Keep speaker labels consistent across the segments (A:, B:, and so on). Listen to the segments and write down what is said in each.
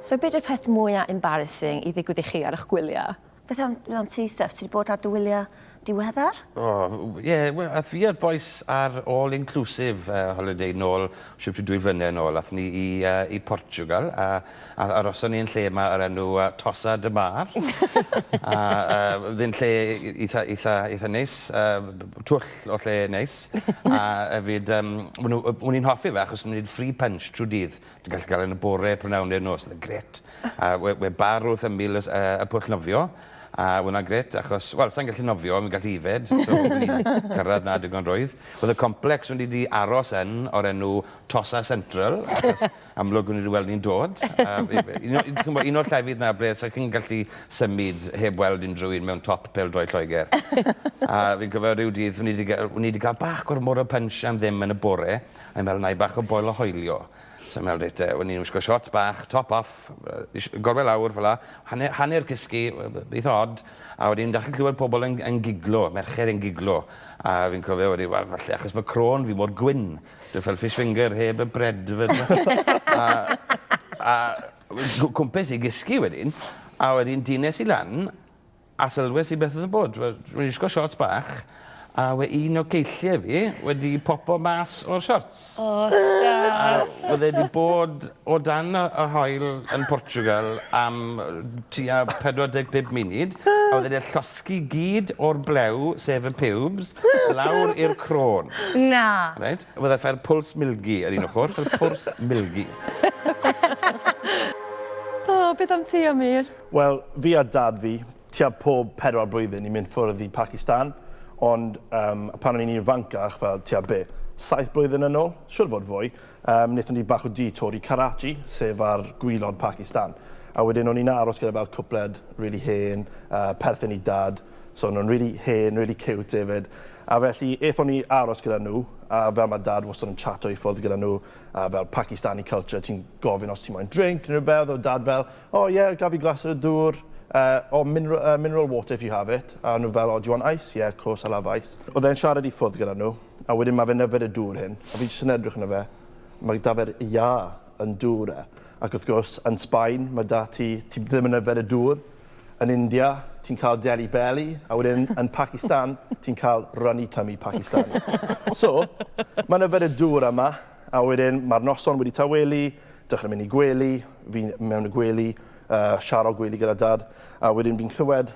A: So beth yw'r peth mwyaf embarrassing i ddigwydd i chi ar eich gwyliau? Beth am, beth am ti, Steph? Ti wedi bod ar dy wyliau diweddar? O, oh, ie, yeah,
B: well, ath fi a'r boys ar all-inclusive uh, holiday nôl, siwp dwy flynedd nôl. Ath ni i, uh, i Portugal, a A aroson ni yn lle 'ma o'r enw yy Tossa de Mar. A yy o'dd e'n lle itha itha itha neis yy b- b- twll o lle neis. A efyd yym ma' nw yy o'n i'n hoffi fe achos o'n i'n neud free punch trw dydd. Ti'n gallu ga'l e yn y bore, prynawn neu'r nos, o'dd e'n grêt. A we- we' bar wrth ymyl y s- yy y pwll nofio a we' wnna'n grêt achos wel sai'n gallu nofio on' fi'n gallu ifed so o'n i'n cyrradd 'na digon rwydd. O'dd y complex o'n i 'di aros yn o'r enw Tossa Central achos amlwg wn i wedi weld hi'n dod. Ch'mbo' un o'r llefydd 'na ble 'sech chi'n gallu symud heb weld unryw un mewn top pêl-droed Lloegr. A fi'n cofio ryw dydd o'n i 'di ga- o'n i 'di ga'l bach gormod o punch am ddim yn y bore a o'n i'n meddwl 'nai bach o boil o hoelio. So o'n i'n me'wl reit 'te wn i'n wisgo siorts bach, top off, yy ish- gorwel lawr fel 'a, hanne- hanner cysgu, we- we- eitha od, a wedyn dach chi'n clywed pobol yn yn giglo, merched yn giglo, a fi'n cofio wedi we- falle achos bo' crôn fi mor gwyn, Dwi fel fish finger heb y bread fel 'na. A a wel cw- cwmpes i gysgu wedyn a wedyn dines i lan a sylwes i beth odd yn bod wel dwi'n wisgo siorts bach a we' un o ceillie fi wedi popo mas o'r siorts. O da.
A: A o'dd e 'di bod
B: o dan y y haul yn Portugal am yy tua pedwar deg pump munud a o'dd e 'di Dysgu gyd o'r blew, sef y piwbs, lawr i'r crôn. Na! Reit,
A: a fyddai ffair
B: Pwls Milgi ar un ochr, ffair Pwrs Milgi.
A: O, beth am ti, Amir? Wel, fi a
C: Dad fi, tua pob pedwar blwyddyn ni'n mynd ffwrdd i Pacistan, ond yym pan o'n i'n ifancach, fel tua be', saith blwyddyn yn ôl? Siŵr o fod fwy. Yym, wnaethon ni bach o detour i Karachi, sef ar gwaelod Pakistan. A wedyn o'n i'n aros gyda fel cwpled rili hen, yy, perthyn i Dad, so o'n nhw'n rili hen, rili ciwt efyd. A felly, aethon ni aros gyda nhw, a fel ma' Dad wastod yn chato i ffwrdd gyda nhw, a fel Pakistani culture, ti'n gofyn os ti moyn drink neu rywbeth, o'dd Dad fel, O ie, gaf fi glas o dŵr? Yy, o, minera- yy, mineral water if you have it. A o'n nhw fel, O, do you want ice? Yeah, of course, I'll have ice. O'dd e'n siarad i ffwrdd gyda nhw, A wedyn ma fe'n yfed y dŵr hyn, a fi jyst yn edrych arno fe, ma da fe'r iâ yn dŵr e. Ac wrth gwrs, yn Sbaen, ma da ti, ti ddim yn yfed y dŵr, yn India, ti'n cael delly belly, a wedyn yn Pacistan, ti'n cael runny tummy Pakistani. So, ma'n yfed y dŵr yma, a wedyn ma'r noson wedi tawelu, dechrau mynd i gwely, fi mewn y gwely, uh, siaro gwely gyda dad, a wedyn fi'n clywed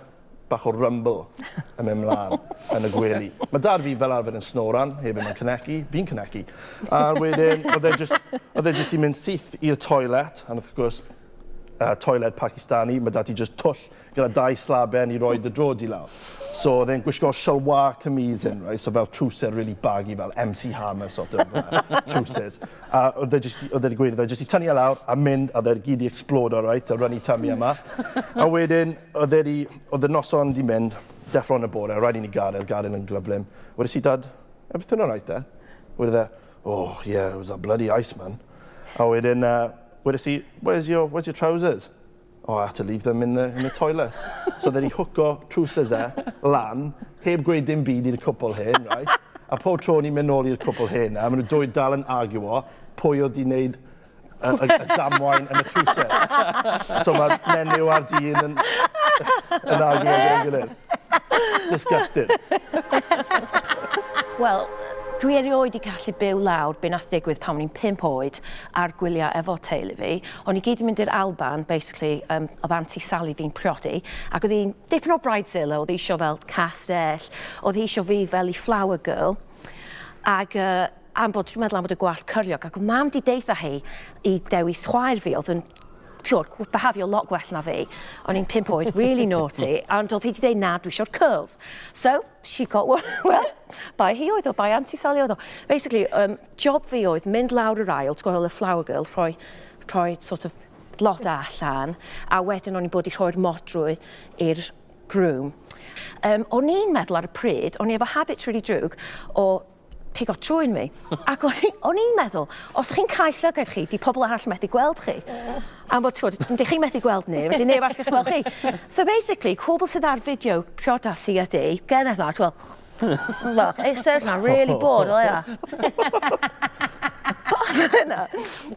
C: bach o rumble yn mynd mlan yn y gwely. Mae dad fi fel arfer yn snoran, hefyd mae'n cynegu, fi'n cynegu. A wedyn, oedd e jyst, oedd e jyst i mynd syth i'r toilet, and wrth gwrs, uh, toilet Pakistani, mae dad i jyst twll gyda dau slaben i roi dy drod i lawr. So oedd e'n gwisgo shalwa camise yn, right? so fel trwser really baggy, fel MC Hammer sort of uh, trwsers. A oedd e jyst, oedd e'n gweud, oedd e jyst i tynnu e lawr a mynd, a oedd e gyd i explodo, right? a run i tummy yma. A wedyn, Oedd e 'di... oedd y noson 'di mynd, deffro yn y bore, rhaid i ni gadael, gadael yn gyflym. Wedes i, Dad, a beth hwnna'n aeth e? Wedodd e, Oh, yeah, it was that bloody Iceman. A wedyn yy, wedes i, Where's your, where's your trousers? Oh, I had to leave them in the, in the toilet. So oedd e 'di hwco trowsus e lan, heb gweud dim byd i'r cwpl hen, reit? A pob tro o'n i'n mynd nôl i'r cwpl hen 'na, maen nhw dwy dal yn arguo pwy oedd 'di wneud y y y damwain yn y cruse. So ma'r menyw a'r dyn yn yn arguo gyda'i gilydd. Disgusting.
A: Wel, dwi erioed 'di gallu byw lawr be' nath ddigwydd pan o'n i'n pump oed ar gwylia efo teulu fi. O'n ni gyd 'di mynd i'r Alban basically yym o'dd Aunty Sally fi'n priodi ac o'dd 'i'n dipyn o bridezilla o'dd 'i isio fel castell o'dd hi isio fi fel 'i flower girl ag yy Am bod ti'n meddwl am bod y gwallt cyrliog, ac oedd mam di deitha hi i dewis chwaer fi, oedd yn tiwr, behafio lot gwell na fi. O'n i'n pimp oed, really naughty, ond oedd hi wedi dweud na, dwi eisiau'r curls. So, she got one, well, bai hi oedd o, bai Auntie Sally oedd o. Basically, um, job fi oedd mynd lawr yr ail, ti'n gweld y flower girl, rhoi, rhoi sort of blod allan, a wedyn o'n i'n bod i rhoi'r modrwy i'r groom. Um, o'n i'n meddwl ar y pryd, o'n i efo habit really drwg o pigo trwyn fi. Ac o'n i, o'n i'n meddwl, os chi'n cael llygaid chi, di pobl arall methu gweld chi. Am bod, ti'n gwybod, dych chi'n methu gweld ni, felly neb arall chi'n gweld chi. So basically, pobl sydd ar fideo priodas i ydi, gen eithaf, ti'n gwybod, Look, it's so I'm really bored, o ia. Dyna.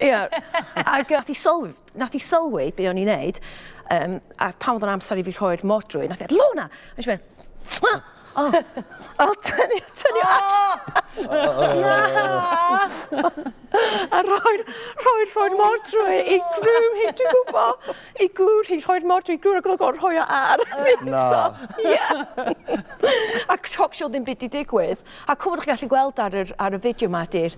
A: Ia. Ac nath i sylwi, nath i sylwi be o'n i'n neud, um, a pan oedd o'n amser i fi rhoi'r modrwy, nath i, Lona! Nes i fynd, O! O tynnu tynnu allan. O! O! Na! A rhoi'r rhoi'r rhoi'r modrwy e i grŵm hi dwi'n gwbo. I gŵr hi rhoi'r modrwy i gŵr ag o'dd o'n gor'o' rhoi o ar fi. Na. Ie. Ac shock show ddim byd 'di digwydd. A cŵl bo' chi gallu gweld ar yr ar y fideo 'ma 'di'r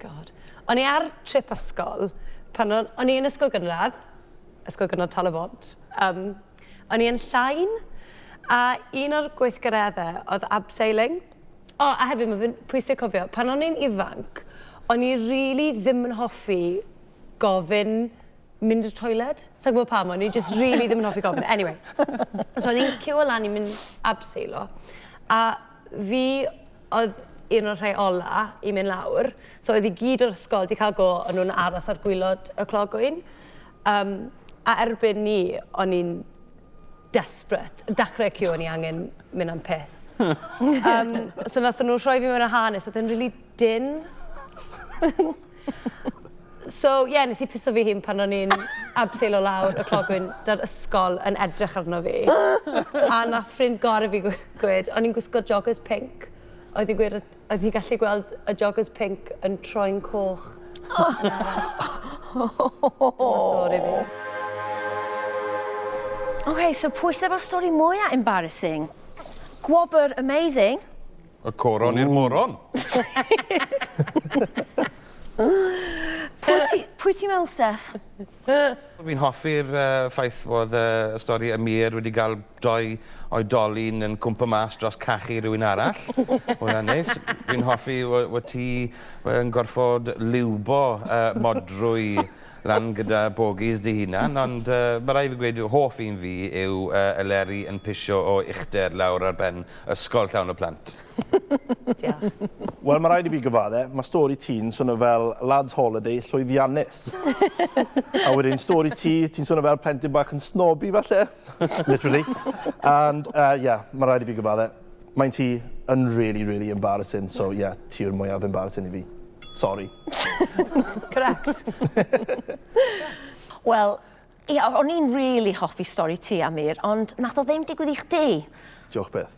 D: God. O'n i ar trip ysgol pan o'n, o'n i yn ysgol gynradd, ysgol gynradd Tal y Bont, um, o'n i yn Llain, a un o'r gweithgareddau oedd abseiling. O, oh, a hefyd mae fe'n pwysig cofio, pan o'n i'n ifanc, o'n i really ddim yn hoffi gofyn mynd i'r toilet. Sa'n gwybod pam, o'n i just really ddim yn hoffi gofyn. Anyway, so o'n i'n cyw o lan i mynd abseilo. A fi oedd un o'r rhai ola i mynd lawr. So oedd i gyd o'r ysgol di cael go, o'n nhw'n aros ar gwylod y clogwyn. Um, a erbyn ni, o'n i'n desperate. Dechrau cyw, o'n i angen mynd am piss. um, so nath nhw rhoi fi mewn y hanes, oedd yn really din. So, ie, yeah, nes i piso fi hun pan o'n i'n abseil o lawr y clogwyn da'r ysgol yn edrych arno fi. A nath ffrind gor i fi gwed, o'n i'n gwisgo joggers pink. Oedd hi'n gwed, oedd hi'n gallu gweld y joggers pink yn troi'n coch. Oh. Dyma stori
A: fi. OK, so pwys level stori mwyaf embarrassing? Gwobr amazing. O coron
B: i'r moron.
A: Pwy ti pwy ti me'wl Steff? Fi'n
B: hoffi'r yy ffaith fod yy y stori Amir wedi ga'l dou oedolyn yn cwmpo mas dros cachu rywun arall. Ma' wnna'n neis. Fi'n hoffi fo- fo' ti yy yn gorffod liwbo yy modrwy Rhan gyda bogies dy hunan, ond ma rai fi gweud hoff un fi yw y leri yn pisio o uchder lawr ar ben ysgol llawn o plant.
D: Diolch. Wel, ma raid
C: i fi gyfadde, ma stori ti'n swno fel lads holiday llwyddiannus. A wedyn stori ti, ti'n swno fel plentyn bach yn snobby falle. Literally. And uh yeah, ma raid i fi gyfadde. Maent hi yn really really embarrassing so ie ti yw'r mwyaf embarrassing i fi. Sori.
D: Correct.
A: Wel ie o- o'n i'n really hoffi stori ti Amir ond nath o ddim digwydd i chdi. Diolch byth.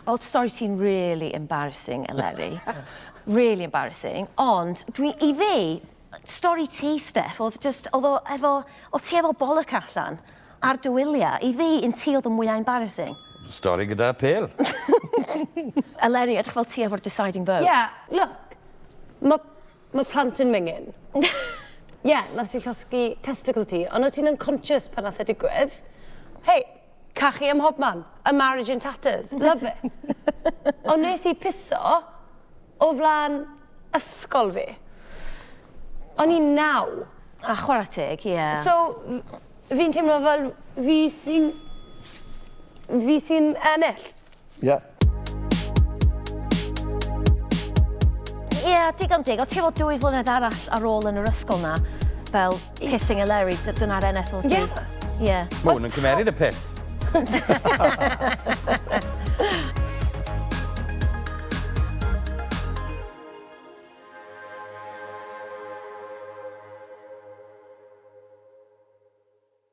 A: O'dd stori ti'n really embarrassing Eleri. Really embarrassing ond dwi i fi Stori ti Steff odd jyst odd o efo odd ti efo bollock allan ar dy wylia. I fi un ti odd y mwya embarrassing. Stori gyda
B: pêl.
A: Eleri edrych fel ti efo'r deciding vote. Ie look
D: ma ma plant yn mingin. Ie nath ti llosgi testicle ti on o ti'n unconscious pan nath e digwydd? Hei Cachu ym mhob man. A marriage in tatters. Love it. Ond nes i piso o flan ysgol fi. O'n i'n naw. A chwarae teg,
A: ie. So,
D: fi'n teimlo fel fi sy'n... fi sy'n ennill.
C: Yeah.
A: Ie, yeah, digon dig. O ti fod dwy flynedd arall ar ôl yn yr ysgol na, fel pissing a Larry, dyna'r NFL ti.
B: Ie.
A: Ie.
B: Mae hwn yn
A: cymeryd y
B: piss.